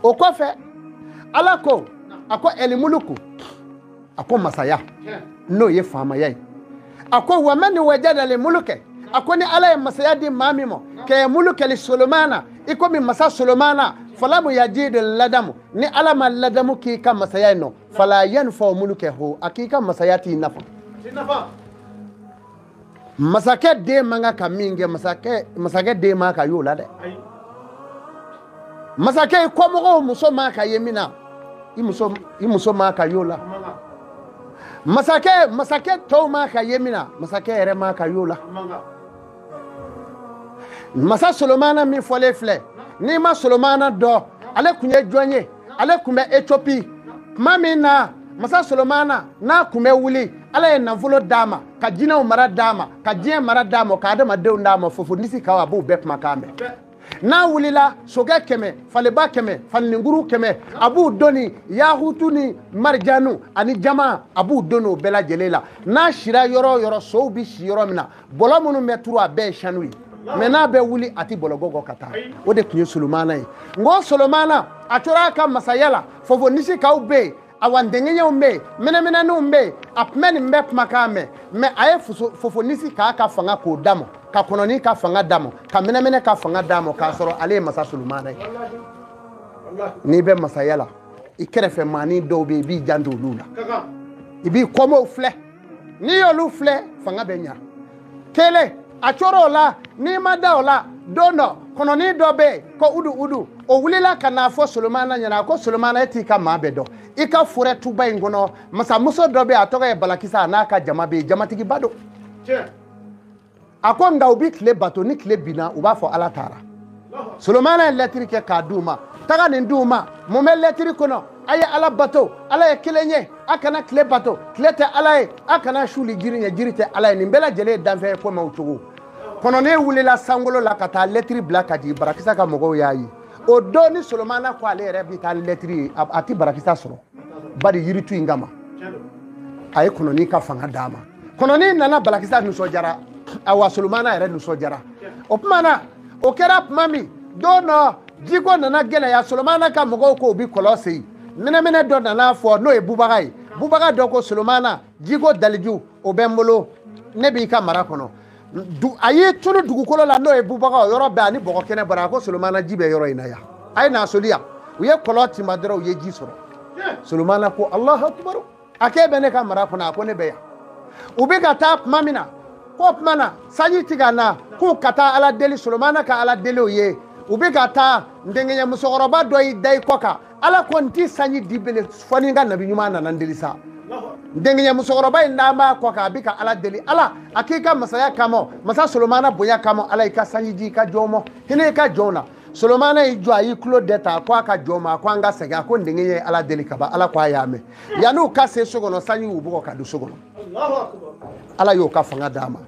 Speaker 2: o kɔfɛ ala ko a ko ɛlimuluku a ko masaya n'o ye faamaya ye a ko wa man wajada limulukɛ a ko ni ala ye masaya di maa min ma kɛ mulukɛli solomana i komi masa solomana falamu yajidi ladamu ni ala ma ladamu k'i ka masaya in nɔ fala yanfau mulukɛ ho a k'i ka masaya t'i nafa masakɛ den man kan ka min kɛ masakɛ den man kan ka y'o la dɛ masakɛ i kɔmɔgɔw muso man kan ka ye min na i muso man kan ka y'o la masakɛ tɔw man kan ka ye min na masakɛ yɛrɛ man kan ka y'o la masa solomana min fɔlen filɛ n'i ma solomana dɔn ale tun ye jɔn ye ale tun bɛ etiopi tuma min na masa solomana n'a tun bɛ wuli ala ye nafolo d'a ma ka jinɛw mara d'a ma ka diɲɛ mara d'a ma ka adamadenw d'a ma fofonisikaw a b'u bɛɛ kumakan mɛn n'a wulila sokɛ kɛmɛ faleba kɛmɛ falininkuru kɛmɛ a b'u doni yahutu ni marijanu ani jaman a b'u doni o bɛɛ lajɛlen la n'a sira yɔrɔ o yɔrɔ sow bɛ si yɔrɔ min na bɔlɔ minnu bɛ turu a bɛɛ ye sanu ye mɛ n'a bɛ wuli a tɛ bɔlɔgɔgɔ ka taa o de tun ye solomana ye n ko solomana a tora a ka masaya la fofonisikaw bɛ yen awa ndengeɲɛw bɛ yen mɛnɛmɛnɛninw bɛ yen a tun bɛ nin bɛɛ kumakan mɛn mɛ a ye fofonisika ka fanga k'o d'a ma ka kɔnɔni ka fanga d'a ma ka mɛnɛmɛnɛ ka fanga d'a ma k'a sɔrɔ ale ye masa solomana ye n'i bɛ masaya la i kɛrɛfɛ maani dɔw bɛ yen i b'i janto olu la i b'i kɔmɔw filɛ n'i y'olu filɛ fanga bɛ ɲa kelen a coro o la n'i ma da o la don dɔ kɔnɔnin dɔ bɛ yen ko udu udu o wulila ka n'a fɔ solomana ɲɛna a ko solomana e t'i ka maa bɛɛ dɔn i ka forɛ tuba in kɔnɔ masamuso dɔ bɛ yen a tɔgɔ ye balakisa a n'a ka jama bɛ yen jamatigiba don a ko nka u bɛ tile bato ni tile binna u b'a fɔ ala taara solomana ye lɛtiri kɛ k'a di u ma taga nin di u ma mun bɛ lɛtiri kɔnɔ a ye ala bato ala ye kelen ye a kana tile bato tile tɛ ala ye a kana suuli jiri ɲɛ jiri tɛ ala ye nin bɛɛ lajɛlen ye danfɛn ye ko mɛw cogo kɔnɔnin wulila sankolo la ka taa lɛtiri bila ka di barakisa ka mɔgɔw y'a ye o don ni solomana ko ale yɛrɛ bɛ taa lɛtiri ye a tɛ barakisa sɔrɔ bari yiritu in kama a ye kɔnɔnin ka fanga d'a ma kɔnɔnin nana balakisa nisɔndiyara awa solomana yɛrɛ nisɔndiyara o tuma na o kɛra tuma min don dɔ jiko nana gɛlɛya solomana ka mɔgɔw ko u bi kɔlɔn sen mɛnɛmɛnɛ dɔ nana fɔ n'o ye bubaga ye bubaga dɔ ko solomana jiko daliju o bɛ n bolo ne b'i ka mara kɔnɔ a y'i tunu dugukolo la n'o ye bubaga o yɔrɔ bɛɛ a ni bɔgɔ kɛnɛ bɔra a ko solomana ji bɛ yɔrɔ in na yan a ye n'a soli yan u ye kɔlɔn tinba dɔrɔn u ye ji sɔrɔ solomana ko alahu akubaru a k'e bɛ ne ka mara kɔnɔ a ko ne bɛ yan u bɛ ka taa tuma min na k'o tuma na sanji ti ka na k'u ka taa ala deli solomana ka ala deliw ye u bɛ ka taa ndenkɛɲɛ musokɔrɔba dɔ y'i da i kɔ kan ala ko n ti sanji di bele fɔ ni n ka nabi ɲuman nana n deli sa ndenkɛɲɛ musokɔrɔba in a b'a kɔ kan a bɛ ka ala deli ala a k'i ka masaya kama masa solomana bonya kama ala i ka sanji di i ka jɔn ma hinɛ i ka jɔnw na solomana y'i jɔ a y'i tulo dɛ ta a ko a ka jɔn ma a ko an ka segin a ko ndenkɛɲɛ ye ala deli ka ban ala ko a y'a mɛn yanni u ka se so kɔnɔ sanji y'u bugɔ ka don so kɔnɔ ala y'o ka fanga d'a ma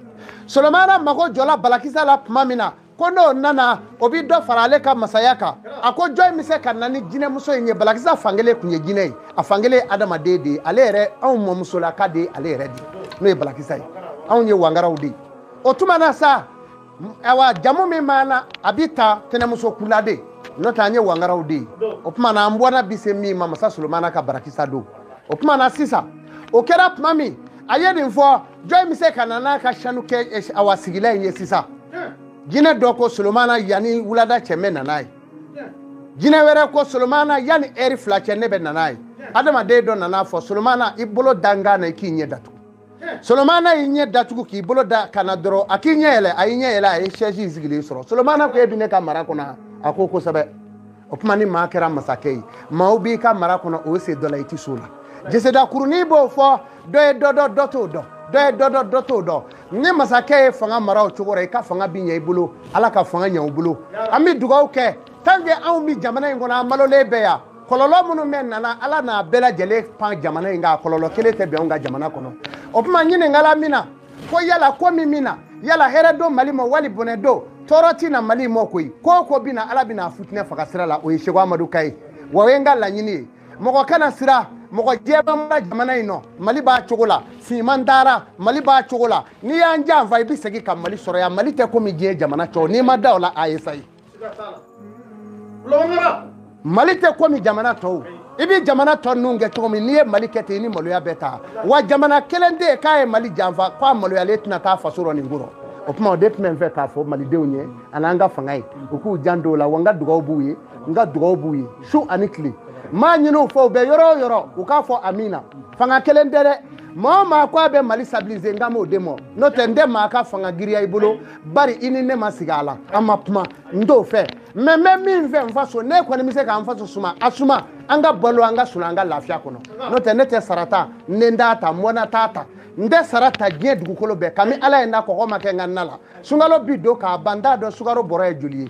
Speaker 2: solomana mago jɔla balakisa la tuma min na ko n'o nana o bɛ dɔ fara ale ka masaya kan a ko jɔn bɛ se ka na ni jinɛmuso in ye balakisa fankelen tun ye jinɛ ye a fankelen ye adamaden de ye ale yɛrɛ anw mɔmusolaka de ye ale yɛrɛ de ye n'o ye balakisa ye anw ye wangaraw de ye o tuma na sa awa jamu min b'an na a bɛ ta tɛnɛmuso kula de n'o tɛ an ye wangaraw de ye o tuma na an bɔnna bɛ se min ma masa solomana ka barakisa don o tuma na sisan o kɛra tuma min a ye nin fɔ jɔni bɛ se ka na n'a ka sanu kɛ eh, awa sigilan in ye sisan jinɛ dɔ ko solomana yanni wulada cɛ n bɛ na n'a ye jinɛ wɛrɛ ko solomana yanni ɛri fila cɛ ne bɛ na n'a ye adamaden dɔ nana fɔ solomana i bolo da kan na i k'i ɲɛ datugu solomana y'i ɲɛ datugu k'i bolo da kan na dɔrɔn a k'i ɲɛ yɛlɛ a y'i ɲɛ yɛlɛ a ye sɛsi sigilen sɔrɔ solomana ko e bɛ ne ka mara kɔnɔ a ko kosɛbɛ o tuma ni maa kɛra masakɛ ye maaw b'i ka mara kɔnɔ o se dɔ la i tɛ s'o la jeseda kurunin b'o fɔ dɔ ye dɔ dɔn dɔ t'o dɔn dɔ ye dɔ dɔn dɔ t'o dɔn ni masakɛ ye fanga mara o cogo la i ka fanga bɛ ɲɛ i bolo ala ka fanga ɲɛ u bolo an bɛ dugawu kɛ tant que anw bɛ jamana in kɔnɔ an balolen bɛ yan kɔlɔlɔ minnu bɛ na na ala n'a bɛɛ lajɛlen pan jamana in kan kɔlɔlɔ kelen tɛ bɛn n ka jamana kɔnɔ o tuma ɲininkala min na ko yala ko min bɛ na yala hɛrɛ don mali ma wali bonɛ don tɔɔrɔ tɛ na mali ma koyi ko o ko bɛ na ala bɛna a futinɛ faga sira la o ye seko amadu kan ye wa o ye n ka laɲini ye mɔgɔ kana siran mɔgɔ ɲɛ bambara jamana in nɔ mali b'a cogo la finman dara mali b'a cogo la n'i y'an janfa i bɛ segin ka mali sɔrɔ yan mali tɛ komi diɲɛ jamana tɔw n'i ma da o la a ye sayi mali tɛ komi jamana tɔw i bɛ jamana tɔ ninnu kɛ cogo min n'i ye mali kɛ ten i ni maloya bɛ taa wa jamana kelen tɛ yen k'a ye mali janfa k'a maloyalen tɛna taa faso rɔ nin kɔrɔ o tuma o de tun bɛ n fɛ k'a fɔ malidenw ye ani an ka fanga ye u k'u janto o la wa n ka dugawu b'u ye n ka dugawu b'u ye su ani tile n b'a ɲini u fɛ u bɛ yɔrɔ o yɔrɔ u k'a fɔ amiina fanga kelen tɛ dɛ maa o maa ko a bɛ mali stabiliser n kan b'o de ma n'o tɛ n tɛ maa ka fanga giriya i bolo bari i ni ne ma sigi a la an ma kuma n t'o fɛ mɛ n bɛ min fɛ n faso n'e kɔni bɛ se ka n faso suma a suma an ka balo an ka sunaa an ka lafiya kɔnɔ n'o tɛ ne tɛ sara ta n den t'a ta n bɔnna t'a ta n tɛ sara ta diɲɛ dugukolo bɛɛ kan bi ala ye n da kɔgɔ ma kɛ n ka na la sunkalo bɛ don ka ban n t'a dɔn sukaro bɔrɔ ye joli ye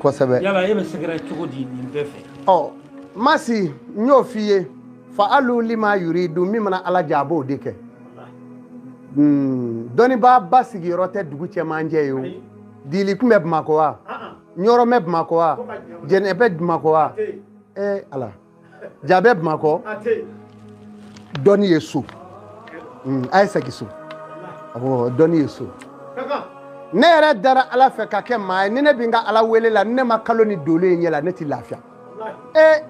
Speaker 1: kosɛbɛ yala e bɛ sɛgɛrɛ cogo di nin bɛɛ fɛ ɔ
Speaker 2: masi n y'o f'i ye fa alu lima yuridu min mana ala diya a b'o de kɛ hmm, dɔnnibaa ba sigiyɔrɔ tɛ dugu cɛmancɛ ye o dili kun bɛ bamakɔ wa ɲɔrɔ bɛ bamakɔ wa jɛnɛ bɛ bamakɔ wa ee ala ja bɛ bamakɔ dɔnni ye so Mm, a ye segin so awɔ dɔnni ye so ne yɛrɛ dara ala fɛ ka kɛ maa ye ni ne bɛ n ka ala wele la ni ne ma kalo ni dolo ye ɲɛ la ne tɛ lafiya e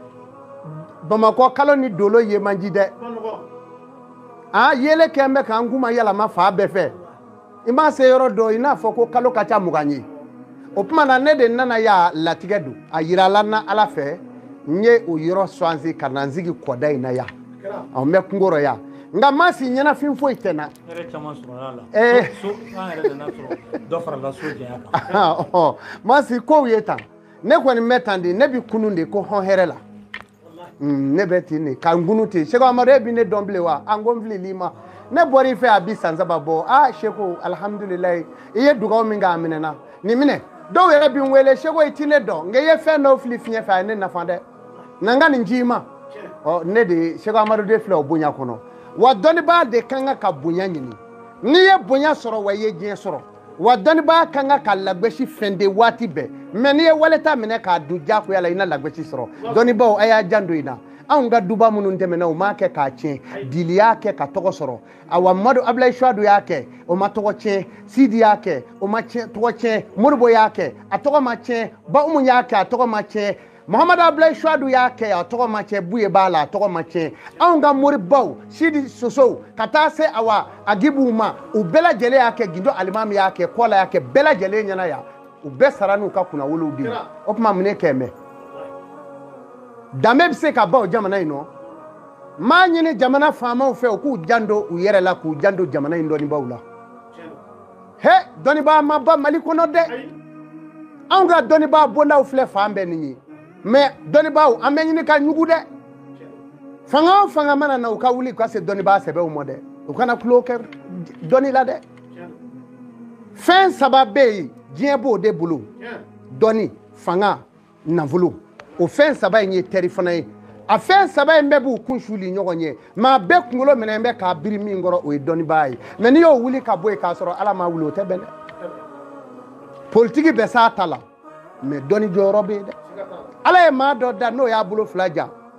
Speaker 2: bamakɔ kalo ni dolo ye man di dɛ a yeelen kɛlen bɛ k'an kuma yɛlɛma fan bɛɛ fɛ i ma se yɔrɔ dɔ i n'a fɔ ko kalo ka ca mugan ye o tuma na ne de nana yan latigɛ don a yirala n na ala fɛ n ye o yɔrɔ swazi ka na n sigi kɔda in na yan ɔ n bɛ kungo rɔ yan nka maa si ɲɛnafin foyi tɛ n
Speaker 1: na ma si kow
Speaker 2: ye tan ne kɔni bɛ tan de ne bɛ kunun de ko hɔn hɛrɛ la mm, ne bɛ ten de ka n kunun ten seko amadu e bɛ ne dɔn bilen wa an ko n filil'i ma ne bɔra i fɛ a bi san saba bɔ aa seko alihamudulilayi i ye dugawu min kɛ a minɛna nin minɛ dɔw yɛrɛ bɛ n wele seko i ti ne dɔn nka i ye fɛn dɔw fili fiɲɛ fɛ a ye ne nafa dɛ na n ka nin di i ma ɔ ne de seko amadu de filɛ o bonya kɔnɔ wa dɔnnibaa de ka kan ka bonya ɲini n'i ye bonya sɔrɔ wa i ye diɲɛ sɔrɔ wa dɔnnibaa ka kan ka lagosi fɛnde waati bɛɛ mɛ n'i ye wali ta minɛ k'a dun diyagoya la i na lagosi sɔrɔ dɔnnibaaw a y'a janto in na anw ka duba minnu tɛmɛna u m'a kɛ k'a tiɲɛ dili y'a kɛ ka tɔgɔ sɔrɔ awa madu abulayi suadu y'a kɛ o ma tɔgɔ tiɲɛ sidi y'a kɛ o ma tɔgɔ tiɲɛ modibo y'a kɛ a tɔgɔ ma tiɲɛ ba umu y'a kɛ a tɔgɔ ma tiɲɛ Muhammad Abdulayi Suadu y'a kɛ a tɔgɔ ma tiɲɛ Buye b'a la a tɔgɔ ma tiɲɛ anw ka moribaw Sidi Sosow ka taa se awa Agibuw ma u bɛɛ lajɛlen y'a kɛ Gindo Alimami y'a kɛ Kɔla y'a kɛ bɛɛ lajɛlen ɲɛna yan u bɛɛ sara n'u ka kunnawolow de ye o tuma mun ne kɛ mɛ danbe bɛ se ka ban o jamana in nɔ n b'a ɲini jamana faamaw fɛ u k'u janto u yɛrɛ la k'u janto jamana in dɔnnibaaw la he dɔnnibaa ma ban mali kɔnɔ dɛ anw ka dɔnnibaa bondaw filɛ fan bɛɛ nin ye mɛ dɔnnibaaw an bɛ ɲini ka ɲugu dɛ fanga o fanga mana na u ka wuli ka se dɔnnibaa sɛbɛw ma dɛ u kana tulon kɛ dɔnni la dɛ fɛn saba bɛ yen diɲɛ b'o de bolo dɔnni fanga nafolo o fɛn saba in ye teri fana ye a fɛn saba in bɛɛ b'u kun suli ɲɔgɔn ye maa bɛɛ kunkolo minɛn bɛ k'a biri min kɔrɔ o ye dɔnnibaa ye mɛ n'i y'o wuli ka bɔ yen k'a sɔrɔ ala ma wuli o tɛ bɛn dɛ politiki bɛ s'a ta la mɛ dɔnni jɔyɔrɔ bɛ yen dɛ ala ye maa dɔ da n'o y'a bolo fila ja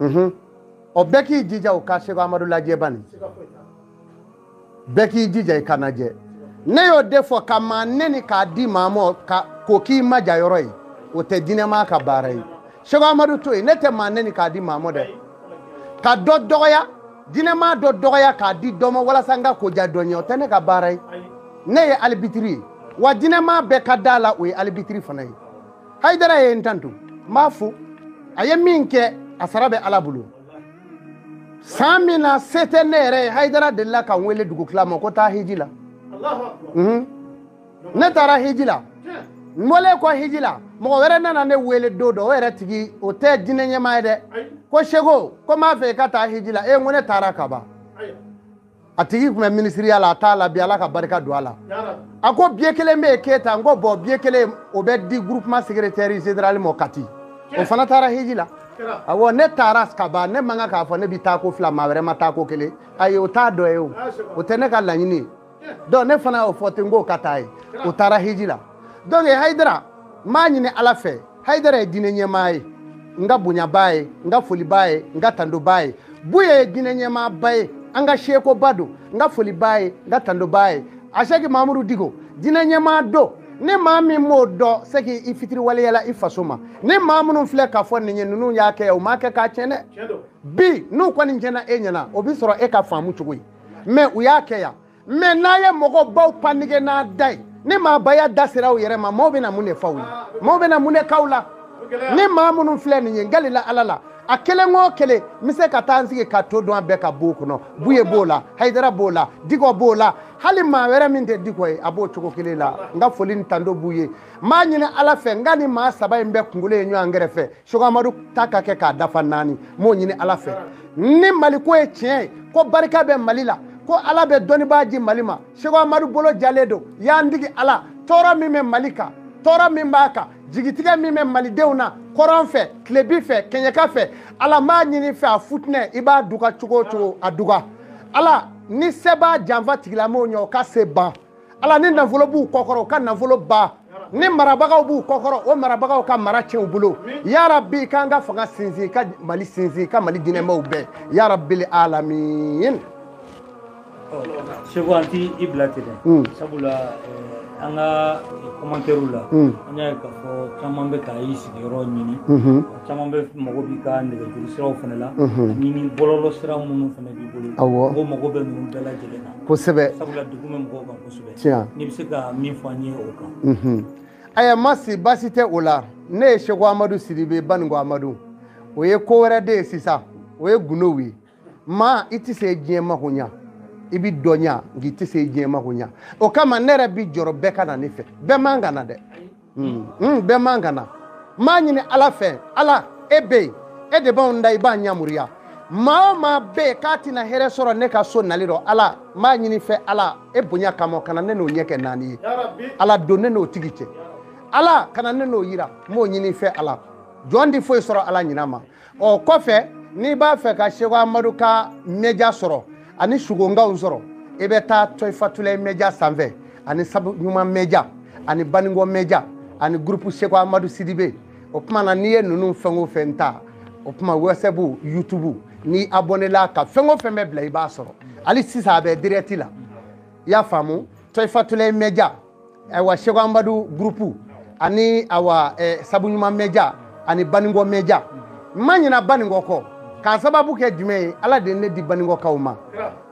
Speaker 2: ɔ bɛɛ k'i jija o ka seko amadu lajɛ bani bɛɛ k'i jija i k'a lajɛ ne y'o de fɔ ka maa neni k'a di maa ma k'o k'i maja yɔrɔ ye o tɛ diinɛmaa ka baara ye seko amadu to yen ne tɛ maa neni k'a di maa ma dɛ ka dɔ dɔgɔya diinɛmaa dɔ dɔgɔya k'a di dɔ ma walasa n ka koja dɔ ɲɛ o tɛ ne ka baara ye ne ye alibitiri ye wa diinɛmaa bɛɛ ka d'a la o ye alibitiri fana ye haydara ye n tantu n b'a fo a ye min kɛ a sara bɛ ala bolo san min na se tɛ ne yɛrɛ ye haydara delila ka n wele dugutila ma ko taa hiji la mhm. ne taara hiji la n bɔlen kɔ hiji la mɔgɔ wɛrɛ nana ne wele don dɔ o yɛrɛ tigi o tɛ diinɛ ɲɛmaa ye dɛ ko seko ko n b'a fɛ i ka taa hiji la e n ko ne taara kaban a tigi tun bɛ minisiriya la a t'a la bi ala ka barika don a la a ko biye kelen bɛ yen keyita n ko bɔn biye kelen o bɛ di groupement secrétaire général ma kati o fana taara hiji la awɔ ne taara ka ban ne man kan k'a fɔ ne bɛ taa ko fila maa wɛrɛ ma taa ko kelen ayi o t'a dɔ ye o o tɛ ne ka laɲini ye donc ne fana y'o fɔ ten n k'o ka taa ye o taara hiji la donc hayidara n b'a ɲini ala fɛ hayidara ye diinɛ ɲɛmaa ye n ka bonyabaa ye n ka folibaa ye n ka tandobaa ye buye ye diinɛ ɲɛmaaba ye an ka seekoba don n ka folibaa ye n ka tandobaa ye asɛki mamudu dikɔ diinɛ ɲɛmaa don ni maa min m'o dɔn c'est que i fitiriwaleyala i faso ma ni maa minnu filɛ k'a fɔ nin ye ninnu y'a kɛ o m'a kɛ k'a tiɲɛ dɛ bi n'u kɔni tiɲɛna e ɲɛna o bi sɔrɔ e ka faamu cogo ye mais u y'a kɛ yan mais n'a ye mɔgɔ baw panige n'a da ye ni maabaya da sera u yɛrɛ ma maaw bɛna mun de f'aw ye maaw bɛna mun de k'aw la ni maa minnu filɛ nin ye n galila ala la a kelen o kelen n bɛ se ka taa n sigi ka to dun a bɛɛ ka bon kɔnɔ buye b'o la hayidara b'o la dikɔ b'o la hali maa wɛrɛ min tɛ dikɔ ye a b'o cogo kelen la n ka foli ni tando b'u ye n b'a ɲini ala fɛ n ka nin maa saba in bɛɛ kunkolo ye ɲɔgɔn kɛrɛfɛ seko amadu ta ka kɛ k'a dafa naani m'o ɲini ala fɛ ni mali ko ye tiɲɛ ye ko barika bɛ mali la ko ala bɛ dɔnnibaa di mali ma seko amadu bolo jalen don y'an digi ala tɔɔrɔ min bɛ mali kan tɔɔrɔ min b'a kan jigitigɛ min bɛ malidenw na kɔrɔn fɛ tilebi fɛ kɛɲɛka fɛ ala m'a ɲini fɛ a futinɛ i b'a duga cogo o cogo a duga ala ni se b'a janfa tigilamɔgɔw ye o ka se ban ala ni nafolo b'u kɔkɔrɔ u ka nafolo ban ni marabagaw b'u kɔkɔrɔ o marabagaw ka mara tiɲɛ u bolo ya rabi k'an ka fanga sinsin ka mali sinsin ka mali diinɛmaw bɛɛ ya rabil alamin
Speaker 1: seko an t'i bila ten dɛ sabula eh, an ka kɔmantɛriw la hmm. an y'a ye k'a fɔ caman bɛ ka i sigiyɔrɔ ɲini mhm. caman bɛ mago b'i ka nɛgɛjuru siraw fana la mhm. ani ni bɔlɔlɔ sira minnu fana b'i bolo mɔgɔw mago bɛ ninnu bɛɛ lajɛlen na kosɛbɛ sabula degun bɛ mɔgɔw kan kosɛbɛ tiɲɛ n'i bɛ se ka min fɔ an ye o kan ayiwa masi
Speaker 2: baasi tɛ o la ne ye seko amadu sidibe baninko amadu o ye ko wɛrɛ de ye sisan o ye gundow ye maa i tɛ se diɲɛ mako ɲa i bi dɔ ɲa nka i tɛ se diɲɛ mako ɲa o kama ne yɛrɛ bi jɔrɔ bɛɛ ka na ne fɛ bɛɛ man ka na dɛ bɛɛ man ka na n b'a ɲini ala fɛ ala e bɛ yen e de b'anw da i b'an yamaruya maa o maa bɛ yen k'a tɛna hɛrɛ sɔrɔ ne ka so nali rɔ ala n b'a ɲini fɛ ala e bonya kama kana ne n'o ɲɛ kɛ naani ye ala don ne n'o tigi cɛ ala kana ne n'o yira n b'o ɲini fɛ ala jɔn ti foyi sɔrɔ ala ɲina ma o kɔfɛ n'i b'a fɛ ka seko amadu ka mɛja sɔrɔ ani sugonkaw sɔrɔ i bɛ taa tɔyifatulayi mɛja sanfɛ ani sabu ɲuman mɛja ani baningɔ mɛja ani gurupu seko amadu sidibe o tuma na n'i ye ninnu fɛn o fɛn ta o tuma wɛsapu yutubu n'i abɔnela ka fɛn o fɛn bɛ bila i b'a sɔrɔ hali sisan a bɛ dirɛti la i y'a faamu tɔyifatulayi mɛja ayiwa seko amadu gurupu ani awa eh, sabu ɲuman mɛja ani baningɔ mɛja n ma ɲina baningɔ kɔ k'a sababu kɛ jumɛn ye ala de ye ne di baningɔkaw ma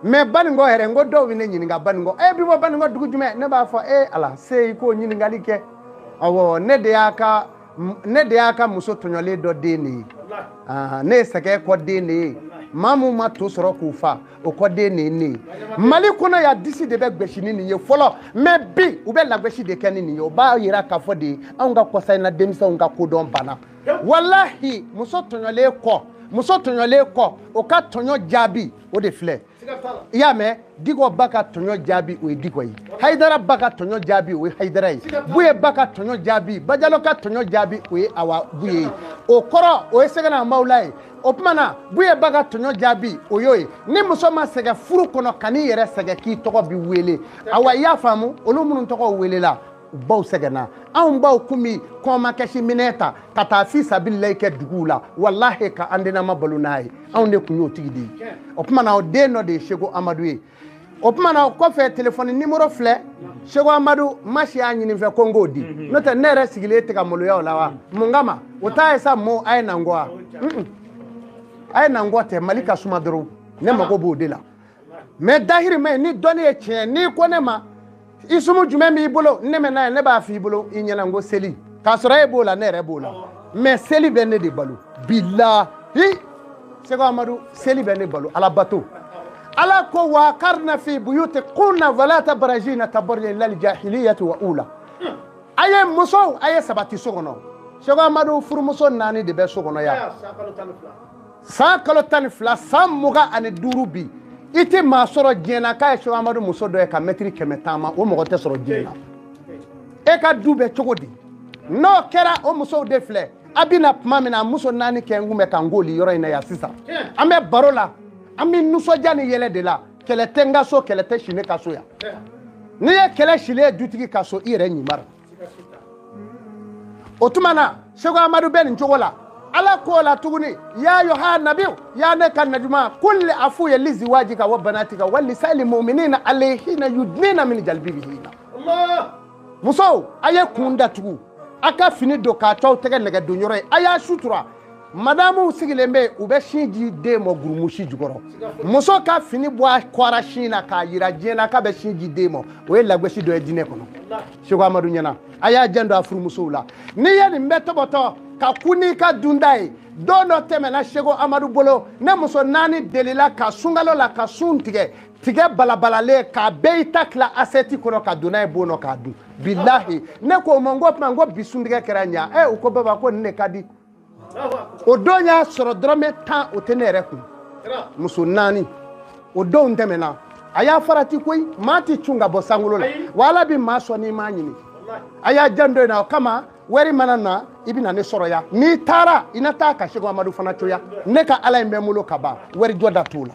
Speaker 2: mɛ baningɔ yɛrɛ n ko dɔw bɛ ne ɲininka baningɔ e bi bɔ baningɔ dugu jumɛn ne b'a fɔ e ala se i k'o ɲininkali kɛ awɔ ne de y'a ka muso tɔɲɔlen dɔ den de ye ne ye sɛgɛn kɔ den de ye maa min ma to sɔrɔ k'u fa o kɔ den de ye ne ye mali kɔnɔ yan disi de bɛ gosi ni nin ye fɔlɔ mɛ bi u bɛ lagosi de kɛ ni nin ye o b'a yira k'a fɔ de anw ka kɔsa in na denmisɛnw ka kodɔn banna walahi muso tɔɲɔlen kɔ o ka tɔɲɔ jaabi o de filɛ i y'a mɛn dikɔ ba ka tɔɲɔ jaabi o ye dikɔ ye hayidara ba ka tɔɲɔ jaabi o ye hayidara ye buye ba ka tɔɲɔ jaabi bajalo ka tɔɲɔ jaabi o ye awa buye ye o kɔrɔ o ye sekina mawula ye o tuma na buye ba ka tɔɲɔ jaabi o y'o ye ni muso ma sɛgɛn furu kɔnɔ kan'i yɛrɛ sɛgɛn k'i tɔgɔ bi wele awa i y'a faamu olu minnu tɔgɔw welela u baw sɛgɛnna anw baw kun bi kɔmakɛsi minɛn ta ka taa fi sabililayi kɛ duguw la walahi ka an denama balo n'a ye anw de kun y'o tigi de ye o tuma na o den dɔ de ye seko amadu ye o tuma na o kɔfɛ telefɔni nimoro filɛ seko amadu masi y'a ɲini n fɛ ko n k'o di mhm. n'o tɛ ne yɛrɛ sigilen tɛ ka maloya o la wa mun kama o t'a ye sa mɔɔw a ye na n kɔ wa a ye na n kɔ tɛ mali ka suma dɔrɔn ne mago b'o de la mɛ dahirimɛ ɲini dɔnni ye tiɲɛ n'i ko ne ma i sumu jumɛn b'i bolo ne mɛ n'a ye ne b'a f'i bolo i ɲɛna n ko seli k'a sɔrɔ e b'o la ne yɛrɛ b'o la mɛ seli bɛ ne de balo bilahi seko amadu seli bɛ ne balo ala bato ala ko wa karina fi buyuti kunna wala tabarajina tabarujali jahiliyati wa ula a ye musow a ye sabati so kɔnɔ seko amadu furumuso naani de bɛ so kɔnɔ yan san kalo tan ni fila san mugan ani duuru bi i tɛ maa sɔrɔ diɲɛ na k'a ye seko amadu muso dɔ ye ka mɛtiri kɛmɛ taama o mɔgɔ tɛ sɔrɔ diɲɛ na e ka du bɛ cogo di n'o kɛra o musow de filɛ a bɛ na tuma min na muso naani kɛ n kun bɛ ka n k'oli yɔrɔ in na yan sisan an bɛ baro la an bɛ nisɔndiya ni yɛlɛ de la kɛlɛ tɛ n ka so kɛlɛ tɛ si ne ka so yan n'i ye kɛlɛ silen ye dutigi ka so i yɛrɛ ɲimara o tuma na seko amadu bɛ nin cogo la ala k'o la tuguni ya yoha nabiyu ya ne ka najuma kulli a f'u ye lizi waji ka wa banati ka wa nisayili mu'minina alayhina yudnina min jalbibihina musow a ye kun datugu a ka fini don ka t'aw tɛgɛ nɛgɛ don yɔrɔ a y'a sutura madamuw sigilen bɛ u bɛ sin di den ma gurumusi jukɔrɔ muso ka fini bɔ a kɔra sin na k'a yira diɲɛ na k'a bɛ sin di den ma o ye lagosi dɔ ye diinɛ kɔnɔ seko amadu ɲɛna a y'a janto a furumusow la n'i ye nin bɛɛ tɔbɔtɔ ka ku n'i ka dunda ye don dɔ tɛmɛna seko amadu bolo ne muso naani delila ka sunkalo la ka sun tigɛ tigɛ balabalalen k'a bɛɛ i ta tila asɛti kɔnɔ ka don n'a ye bon nɔ k'a dun bilahi ne ko o ma n ko tuma n ko bi suntigɛ kɛra ɲa ɛ u ko baba ko nin de ka di o don y'a sɔrɔ dɔrɔmɛ tan o tɛ ne yɛrɛ kun muso naani o donw tɛmɛna a y'a farati koyi maa tɛ cun ka bɔ sankolo la wa ala bɛ maa sɔn n'i m'a ɲini a y'a janto in na o kama wari mana na i bɛna ne sɔrɔ yan n'i taara i na taa ka seko amadu fana to yan ne ka ala in bɛ n bolo ka ban wari jɔda t'o la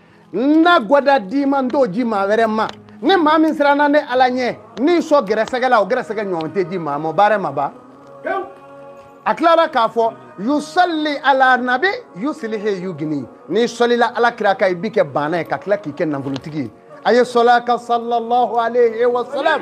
Speaker 2: n na gwada d'i ma n t'o di maa wɛrɛ ma ni maa min siranna ne ala ɲɛ n'i sɔn gɛrɛsɛgɛ la o gɛrɛsɛgɛ ɲɔgɔn tɛ di maa ma baara ma ban a tilara k'a fɔ yusalli ala nabi yusilihi yugini n'i sɔlila ala kira kan i b'i kɛ baana ye ka tila k'i kɛ nafolotigi ye a ye sɔl'a kan sallallahu alayhi wa salam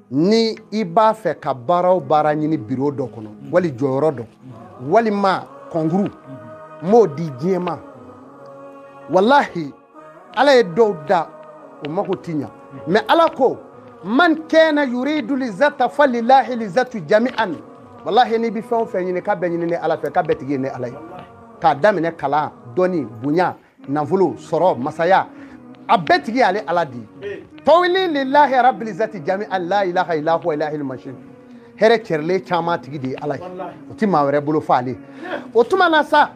Speaker 2: ni i b'a fɛ ka baara o baara ɲini biro dɔ kɔnɔ wali jɔyɔrɔ dɔ walima kɔnkuru m'o di diɲɛ ma walahi ala ye dɔw da o mako ti ɲa mɛ ala ko man kana yuridu lizata falilahi lizatu jami'an walahi n'i bɛ fɛn o fɛn ɲini k'a bɛɛ ɲini ne ala fɛ k'a bɛɛ tigi ye ne ala ye k'a daminɛ kalan dɔnni bonya nafolo sɔrɔ masaya a bɛɛ tigi y'ale ala di tawli lillahi rabbil zati jami'an la ilaha illa huwa ilahil mashin hɛrɛ cɛrɛlen caman tigi de ye ala ye o ti maa wɛrɛ bolo fɔ ale o tuma na sa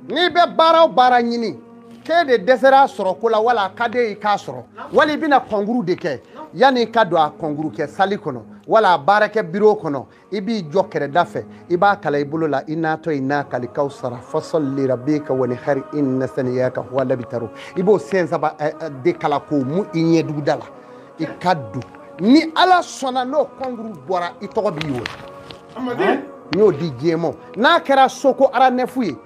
Speaker 2: n'i bɛ baara o baara ɲini k'e de dɛsɛra a sɔrɔ ko la wala a ka d'e ye k'a sɔrɔ wali i bɛna kɔnkuru de kɛ yanni i ka don a kɔnkuru kɛ sali kɔnɔ wala a baarakɛ biro kɔnɔ i b'i jɔ kɛrɛda fɛ i b'a kalan i bolo la inna atɔyina kali kawsara fasɔli lirabika wanihari inna saniyaka huwa labitaro i b'o sɛn saba eh, eh, de kalan k'o mu i ɲɛduguda la i ka don ni ala sɔnna n'o kɔnkuru bɔra i tɔgɔ bi wele n y'o di diɲɛ ma n'a kɛra soko aranɛfu ye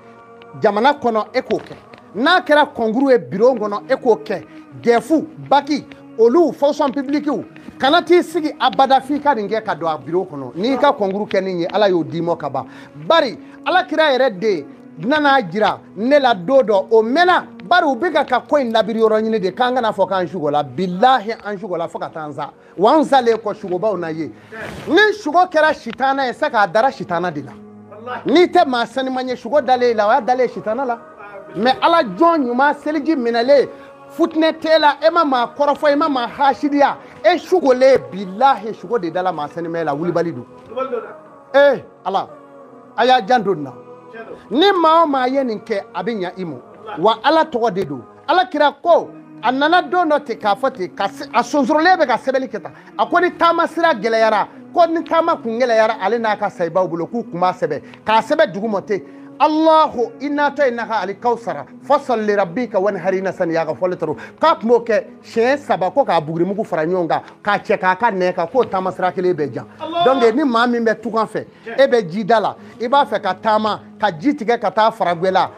Speaker 2: jamana kɔnɔ e k'o kɛ n'a kɛra kɔnkuru ye biro kɔnɔ e k'o kɛ dɛfu baki olu fonction publikiw kana t'i sigi abada f'i ka nin kɛ ka don a biro kɔnɔ n'i ka kɔnkuru kɛ nin ye ala y'o d'i mɔ ka ban bari ala kira yɛrɛ de nana jira ne la don dɔ o mɛnna bari u bɛ ka ka ko in labiri yɔrɔ ɲini de k'an kan'a fɔ k'an sugola bilahi an sugola fo ka taa n sa wa n salen kɔ sugobaw na ye ni sugo kɛra sitana ye sa k'a dara sitana de la n'i tɛ maa saniman ye sugo dalen la o y'a dalen sitana la mais ala jɔn ɲuman seliji minɛlen futinɛ t'e la e ma maa kɔrɔfɔ e ma maa hasidiya e sugolen bilahi sugo de dala maa saniman la wulibali don ee ala a y'a janto nin na ni maa o maa ye nin kɛ a bɛ ɲa i ma wa ala tɔgɔ de don ala kira ko a nana don dɔ ten k'a fɔ ten k'a sonsorolen bɛ ka sɛbɛnni kɛ tan a ko ni taama sira gɛlɛyara ko ni taama kun gɛlɛyara ale n'a ka sayibaw bolo k'u kun b'a sɛbɛn k'a sɛbɛn duguma ten allahu ina atayinaka alikawsara fasali li rabika wanihari ina saniyaka huwal abtaru k'a tun b'o kɛ siɲɛ saba ko k'a bugurimugu fara ɲɔgɔn kan k'a cɛ k'a ka nɛɛ kan k'o taama sira kelen bɛ jan donc ni maa min bɛ tunga fɛ e bɛ jida la i b'a fɛ ka taama ka ji tigɛ ka taa faragwɛla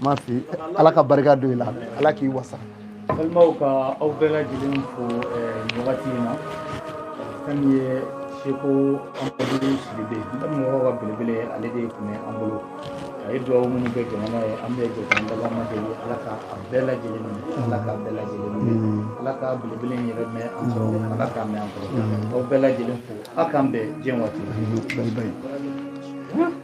Speaker 2: ma fi ala ka barika don i la ala k'i wasa balimaw
Speaker 1: ka aw bɛɛ lajɛlen fo eh, nin wagati in na fɛn min ye seku amadu sidibe n bɛ mɔgɔ ka belebele ale de tun bɛ an bolo a ye dugawu minnu kɛ jamana ye an bɛ jɛ k'an dabaa ma deli ala ka a bɛɛ lajɛlen minɛ ala ka bɛɛ lajɛlen minɛ ala ka belebele in yɛrɛ mɛn an kɔrɔ ala k'a mɛn an kɔrɔ aw bɛɛ lajɛlen fo aw k'an bɛn diɲɛ waati la